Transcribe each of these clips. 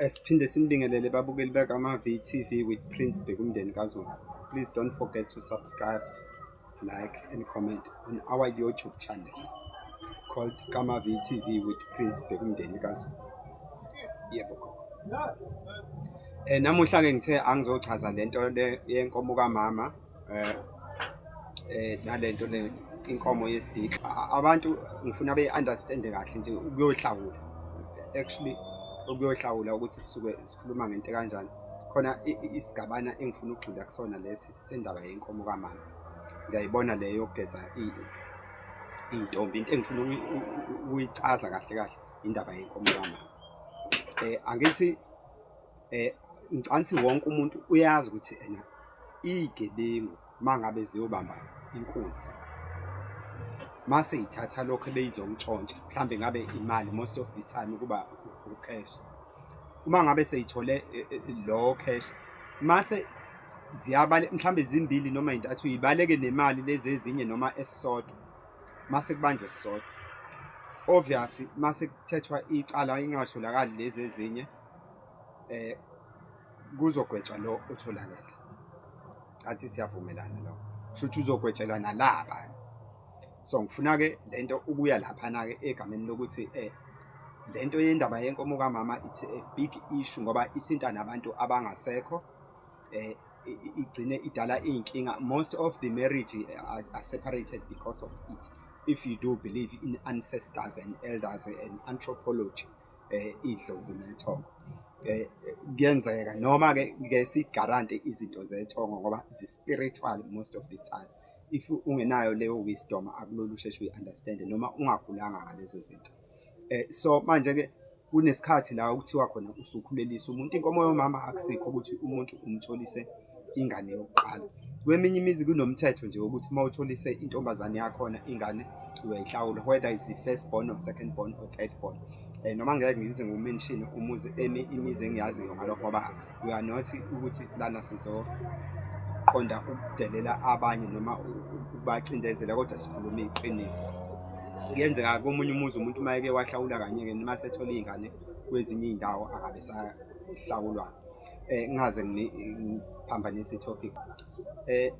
Siphinde sinibingelele babukeli bakama-VTV with Prince Bhekumndeni kaZulu. Please don't forget to subscribe, like and comment on our YouTube channel called Kama VTV with Prince Bhekumndeni kaZulu. Yebo gogo. Eh namuhla ke ngithe angizochaza lento yenkomo kamama eh eh nalento le inkomo yesididi abantu ngifuna be understand kahle nje ukuyohlawula actually ukuyohlawula ukuthi sisuke sikhuluma ngento kanjani khona isigabana engifuna ukugxila kusona lesi sendaba yenkomo kamama ngiyayibona leyo yokugeza iy'ntombi into engifuna ukuyichaza kahle kahle indaba yenkomo kamama um angithi eh ngicanthi wonke umuntu uyazi ukuthi ena igebengu mangabe ziyobamba inkunzi mase ithatha lokho ebeyizongitshontsha mhlambe ngabe imali most of the time kuba ucash uma ngabe seyithole e, e, e, lo cash mase ziyabale mhlambe zimbili noma intathu ibaleke nemali lezi ezinye noma esisodwa mase kubanjwe sisodwa obviously mase kuthethwa icala ingatholakali lezi ezinye eh kuzogwetshwa lo otholakele athi siyavumelana lo shuthi uzogwetshelwa nalaba so ngifuna ke lento ukuya lapha na ke egameni lokuthi eh lento yendaba yenkomo kamama it's a big issue ngoba ithinta nabantu abangasekho eh igcine idala inkinga most of the marriage eh, are, are separated because of it if you do believe in ancestors and elders and anthropology eh idlozi nethongo eh kuyenzeka noma ke ke si guarantee izinto zethongo ngoba zi spiritual most of the time if ungenayo leyo wisdom akulolu usheshe uyi understand noma ungagulanga ngalezo zinto eh so manje ke kunesikhathi la okuthiwa khona usukhulelisa umuntu inkomo yomama akusikho ukuthi umuntu umtholise ingane yokuqala. Kweminye imizi kunomthetho nje wokuthi uma utholise intombazane yakhona ingane uyayihlawula whether is the first born or second born or third born. Eh noma ngeke ngize ngiwumention umuzi emi imizi engiyaziyo ngalokho ngoba we are not ukuthi lana sizo qonda ukudelela abanye noma ukubacindezela kodwa sikhuluma iqiniso. Kuyenzeka komunye umuzi umuntu uma eke wahlawula kanye ke noma sethola ingane kwezinye izindawo akabe sahlawulwa. eh ngaze ngiphambanisa itopic eh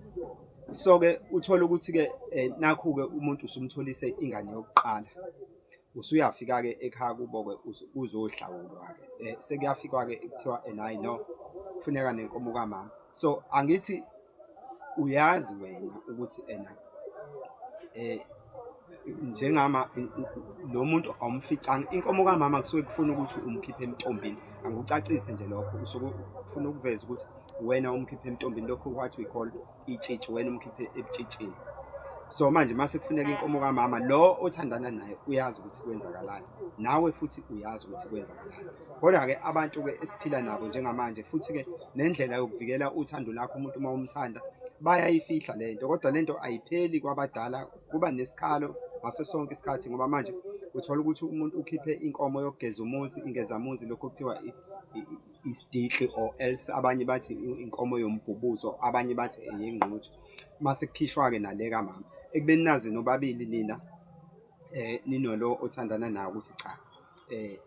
so ke uthola ukuthi ke eh, nakhu ke umuntu usumtholise ingane yokuqala usuyafika ke ekhaya kubo ke uzohlawulwa ke eh, sekuyafikwa ke kuthiwa enayi eh, no kufuneka nenkomo kamama so angithi Uyazi wena ukuthi ena eh njengama lo muntu awumficanga inkomo kamama kusuke kufuna ukuthi umkhiphe emtombini angikucacise nje lokho usuke ufuna ukuveza ukuthi wena umkhiphe emtombini lokho kwathi uyikhola itshitshi wena umkhiphe ebutshitshini so manje mase kufuneka inkomo kamama lo othandana naye uyazi ukuthi kwenzakalani nawe futhi uyazi ukuthi kwenzakalani Kodwa-ke abantu-ke esiphila nabo njengamanje futhi-ke nendlela yokuvikela uthando lakho umuntu uma umthanda bayayifihla le nto kodwa le nto ayipheli kwabadala kuba nesikhalo ngaso sonke isikhathi ngoba manje uthola ukuthi umuntu ukhiphe inkomo yokugeza umuzi ingezamuzi lokho kuthiwa isidixi or else abanye bathi inkomo yombhubuzo abanye bathi eyengquthu mase kukhishwa-ke nale kamama ekubeni nazi nobabili nina um ninolo othandana nawo ukuthi cha um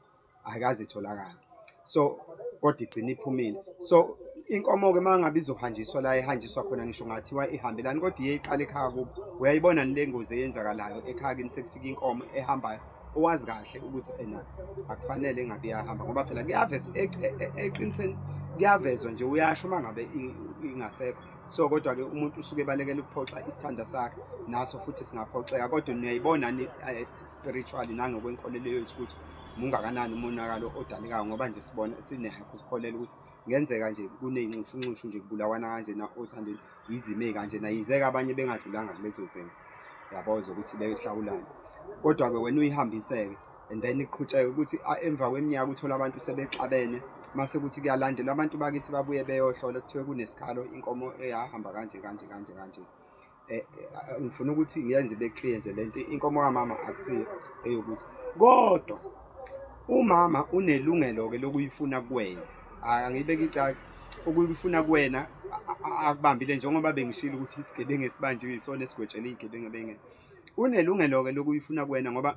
ayikaze itholakale so kodwa igcina iphumile so inkomo-ke uma ngabe izohanjiswa la ihanjiswa khona ngisho ngathiwa ihambelani kodwa iye iqale ekhaya kubo uyayibona nile ngozi eyenzakalayo ekhaya kini sekufika inkomo ehambayo owazi kahle ukuthi ena akufanele engabe iyahamba ngoba phela kuyaveza e, e, e, eqiniseni kuyavezwa nje uyasho uma ngabe ingasekho so kodwa-ke umuntu usuke ebalekela ukuphoxa isithanda sakhe naso futhi singaphoxeka kodwa niyayibona spiritually nangokwenkolelo yethu ukuthi mungakanani umonakalo odalekayo ngoba nje sibona sinehakho ukukholela ukuthi ngenzeka nje kuneyinxushunxushu nje kubulawana kanjena othandweni yizime kanjena yizeka abanye bengadlulanga kulezo zimo yabo zokuthi beyohlawulana kodwa-ke wena uyihambiseke and then iqhutsheke ukuthi emva kweminyaka uthole abantu sebexabene mase kuthi kuyalandelwa abantu bakithi babuye beyohlola kuthiwe kunesikhalo inkomo eyahamba kanje kanje kanje kanje eh, eh, ngifuna ukuthi ngiyenze ibe clear nje lento inkomo kamama akusiyo eyokuthi kodwa umama unelungelo ke lokuyifuna kuwena angibeke icaka okuyifuna kuwena akubambile njengoba bengishilo ukuthi isigebengu esibanjiwe isona esigwetshelwe igebengu bengene unelungelo ke lokuyifuna kuwena ngoba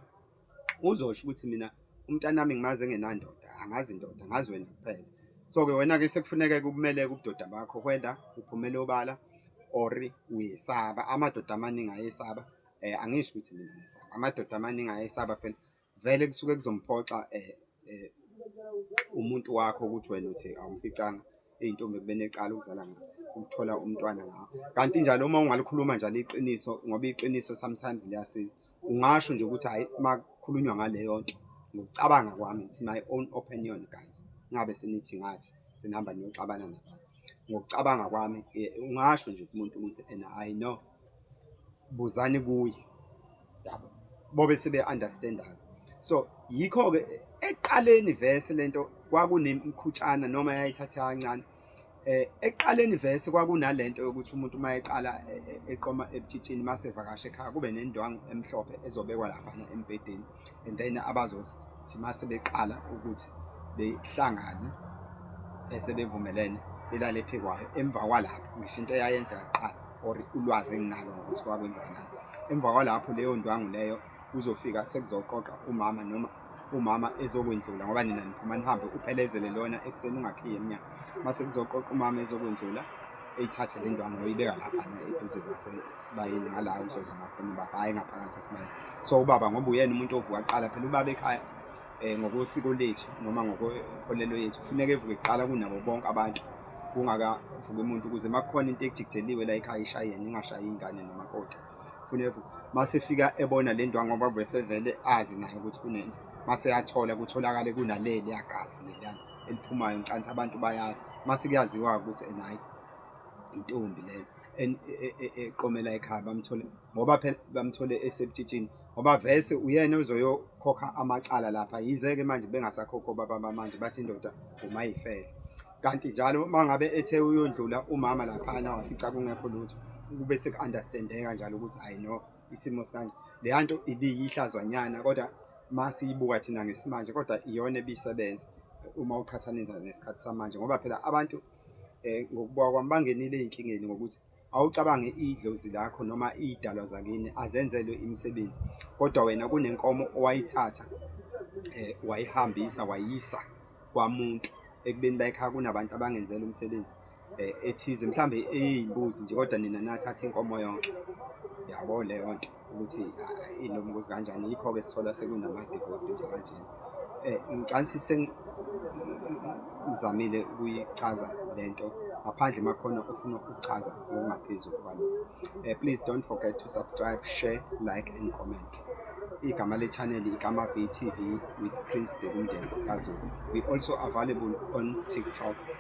uzosho ukuthi mina umntanami ngimazi engenandoda angazi indoda ngazi wena kuphela so-ke wena-ke sekufuneke kukumele kubudoda bakho whether uphumele obala or uyesaba amadoda amaningi ayesaba um angisho ukuthi mina ngisaba amadoda amaningi ayesaba phela vele kusuke kuzomphoxa um um umuntu wakho ukuthi wena uthi awumficanga eyintombi ekubeni eqala ukuzala ngayo ukuthola umntwana ngawo kanti njalo uma ungalikhuluma njalo iqiniso ngoba iqiniso sometimes liyasiza ungasho nje ukuthi hayi makukhulunywa ngaleyo nto ngokucabanga kwami it's my own opinion guys ngabe senithi ngathi sinihamba niyoxabana nabantu ngokucabanga kwami ungasho nje kumuntu ukuthi and i know buzani kuye yabo bobe sebe understand so yikho ke eqaleni verse lento kwakunemkhutshana noma yayithatha kancane eh eqaleni verse kwakunalento yokuthi umuntu uma eqala e, e, eqoma ebuthithini mase vakashe ekhaya kube nendwangu emhlophe ezobekwa lapha embedeni and then abazothi uma sebeqala ukuthi behlangane eh, sebevumelene belale phe kwayo emva kwalapho ngisho into eyayenzeka kuqala or ulwazi enginalo ngokuthi kwakwenzakalani emva kwalapho leyo ndwangu leyo kuzofika sekuzoqoqa umama noma umama ezokwendlula ngoba nina niphuma nihambe uphelezele lona ekuseni ungakhiye emnyango mase kuzoqoqa umama ezokwendlula eyithathe le ntwana oyibeka laphana eduze kwasesibayeni ngala uzoza ngakhona ubaba hhayi ngaphakathi esibayeni so ubaba ngoba uyena umuntu ovuka kuqala phela ubaba ekhaya um ngokosiko lethu noma ngokolelo yethu kufuneka evuke kuqala kunabo bonke abantu kungakavuki umuntu ukuze uma kukhona into ekujikijeliwe la ekhaya ishayene ingashayi ingane nomakoti kufuneka evuke uma sefika ebona le ntwa ngoba besevele azi naye ukuthi kunento uma seyathola kutholakale kunaleli yagazi leliyana eliphumayo nkansi abantu bayazi mase kuyaziwa ukuthi and hayi intombi leyo eqomela e, e, e, ekhaya bamthole ngoba phela bamthole esebutshitshini ngoba vese uyena uzoyokhokha amacala lapha yize-ke manje bengasakhokho baba bamanje bathi indoda umayifele kanti njalo uma ngabe ethe uyondlula umama laphana wafica kungekho lutho kube seku-understandeka njalo ukuthi hayi no isimo sikanje leya nto ibiyihlazwanyana kodwa uma siyibuka thina ngesimanje kodwa iyona ebisebenza uma uqhathanisa nesikhathi samanje ngoba phela abantu um ngokubuka kwami bangenile ey'nkingeni ngokuthi awucabange idlozi lakho noma iy'dalwa zakini azenzelwe imisebenzi kodwa wena kunenkomo owayithatha um wayihambisa wayisa kwamuntu ekubeni layikhaya kunabantu abangenzela umsebenzi eh, ethize mhlambe eyimbuzi nje kodwa nina nathatha inkomo yonke yabo leyo nto ukuthi ah, inombuzi kanjani yikho ke sithola sekunama divorce nje kanje eh ngicansi sengizamile ukuyichaza lento ngaphandle makhona ufuna ukuchaza ngokungaphezulu kwalokho eh please don't forget to subscribe share like and comment igama le channel igama VTV with Prince Bekumdeni kaZulu we also available on TikTok